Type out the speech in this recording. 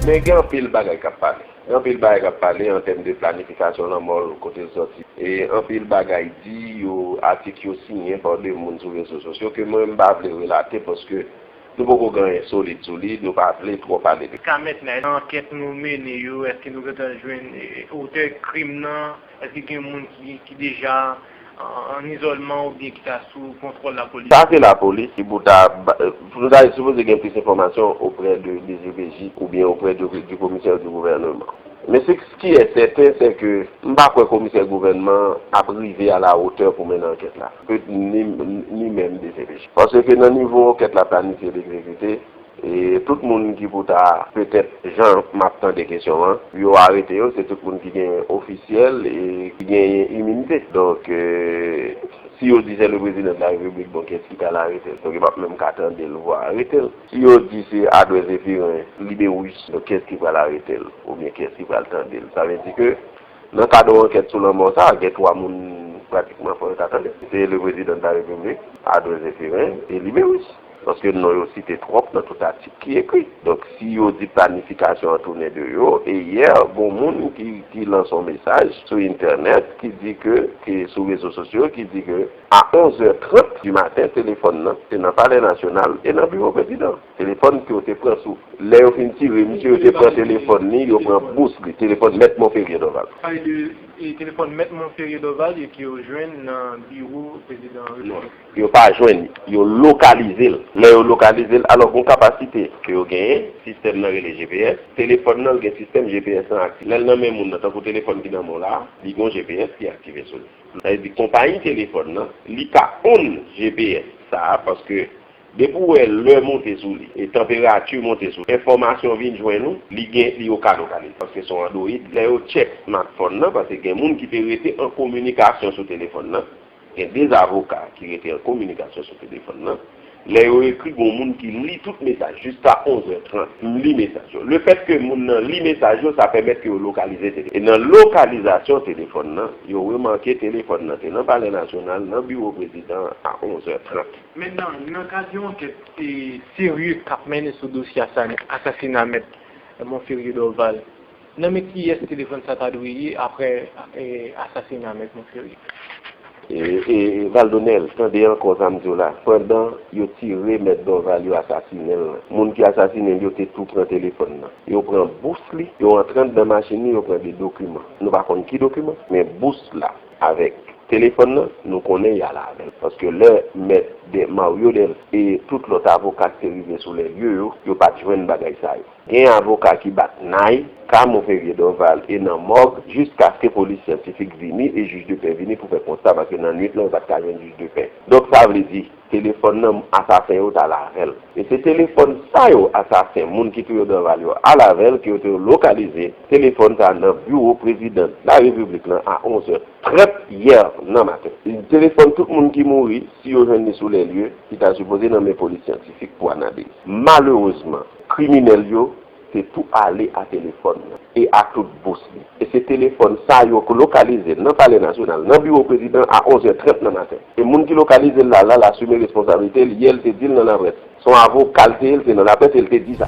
Men gen anpil bagay k ap pale. Gen anpil bagay k ap pale an tèm de planifikasyon lanmò l, kote l sòti. E anpil bagay di, yo atik yo siyen pa de moun sou rezo sosyo ke mwen m pa vle relate paske nou poko gen anyen solid sou li, nou pa vle twò pale de. Ka mèt nan ankèt nou mennen yo, èske nou gentan jwenn otè krim nan? Èske gen moun ki deja an izolman oubyen ki ta sou kontwòl lapolis? Sa se lapolis ki pou ta bay, pou nou ta sipoze gen plis enfòmasyon oprè de dcpj oubyen oprè de du commissaire du gouvernement. Men se ce qui est certain c'est que m pa kwè komisè gouvènman an ap rive a la hauteur pou mennen ankèt la, ni menm dcpj. Paske ke nan nivo ankèt la planifye l ekzekite, E tout moun ki pou ta petèt jan map tande kesyon an yo arete yo se tout moun ki gen ofisyèl e ki genyen iminite donk si yo di se le prezidan de la repiblik bon kiyès ki tal aretel donk yo pap menm ka tandel vwa aretel si yo di se adwè zefirin lide wouj donk kiyès ki pral aretel oubyen kiyès ki pral tandel sa vle di ke nan kad on ankèt sou lanmò sa gen 3 moun pratikman fò yo ta tande se le prezidan de la repiblik adwè zefirin e lide wouj. Paske non yo site twòp nan tout atik ki ekri. Donk si yo di planifikasyon an tounen de yo, e yè gon moun ki lanse yon mesaj sou entènèt ki di ke, ki sou rezo sosyo ki di ke a 11 zè 30 di maten telefòn nan te nan palè nasyonal e nan biwo prezidan. Telefòn ke yo te pran sou lè yo fin tire misye yo te pran telefòn li, yo pran bous li, telefòn mèt Monferrier Dorval. Pale de telefòn mèt Monferrier Dorval e ke yo jwenn nan biwo prezidan repiblik. Yo pa jwenn li. Yo lokalize l. Lè yo lokalize l, alò gon kapasite ke yo genyen, sistèm nan rele GPS, telefòn nan l gen sistèm GPS lan aktive. Lè l nan men moun nan, tankou telefòn ki nan men w la a, li gon GPS ki aktive sou li. Sa vle di konpayi telefòn nan, li ka onn GPS sa a paske depi w wè lè monte sou li e tanperati monte sou li, enfòmasyon vin jwenn ou, li gen, li yo ka lokalize paske se yon android. Lè yo tchèk smatfòn nan, paske gen moun ki te rete an kominikasyon sou telefòn nan, Gen 2 avoka ki rete an kominikasyon sou telefòn nan. Lè yo ekri gon moun ki li tout mesaj jiska 11 zè 30. M li mesaj yo. Le fèt ke moun nan li mesaj yo sa pèmèt ke yo lokalize telefòn nan. E nan lokalizasyon telefòn nan, yo remake telefòn nan te nan Palè Nasyonal, nan biwo prezidan an a 11 zè 30. Men nan kad yon ankèt serye k ap mennen sou dosye asasina Mèt Monferrier Dorval, Nan men kiyès telefòn sa ta dwe ye aprè asasina mèt Monferrier? Valdo Nel, tande ankò sa m di w la, pandan yo tire mèt Dorval yo asasinen l lan, moun ki asasinen l yo te tou pran telefòn nan. Yo pran bous li, yo antre andan machin li, yo pran 2 dokiman. Nou pa konn ki dokiman, men bous la avèk telefòn nan, nou konnen y al avè l. Paske lè mèt Mario Delf e tout lòt avoka ki te rive sou lèlye yo, yo pa t jwenn bagay sa yo. Gen avoka ki bat nay, ka move vye Dorval e nan mòg jiskaske polis syantifik vini e jij de pè vini pou fè konsta paske nan nwit lan yo pat ka jwenn jij de pè. Donk sa vle di, telefòn nan asasen yo tal avè l. E se telefòn sa yo asasen moun ki touye Dorval yo al avè l ke yo te lokalize telefòn sa nan biwo prezidan la repiblik lan a 11 è 30 yè nan maten. Telefòn tout moun ki mouri, si yo jwenn li sou lè lye, ki ta sipoze nan men polis syantifik pou analiz. Malerezman. Kriminèl yo te tou ale a telefòn nan e a tout bous li. E se telefòn sa yo k lokalize nan Palè Nasyonal, nan biwo prezidan a 11 è 30 nan maten. E moun ki lokalize l la, la l asume responsabilite l, yè l te di l nan laprès. S on avoka l te ye, l te nan laprès e l te di sa.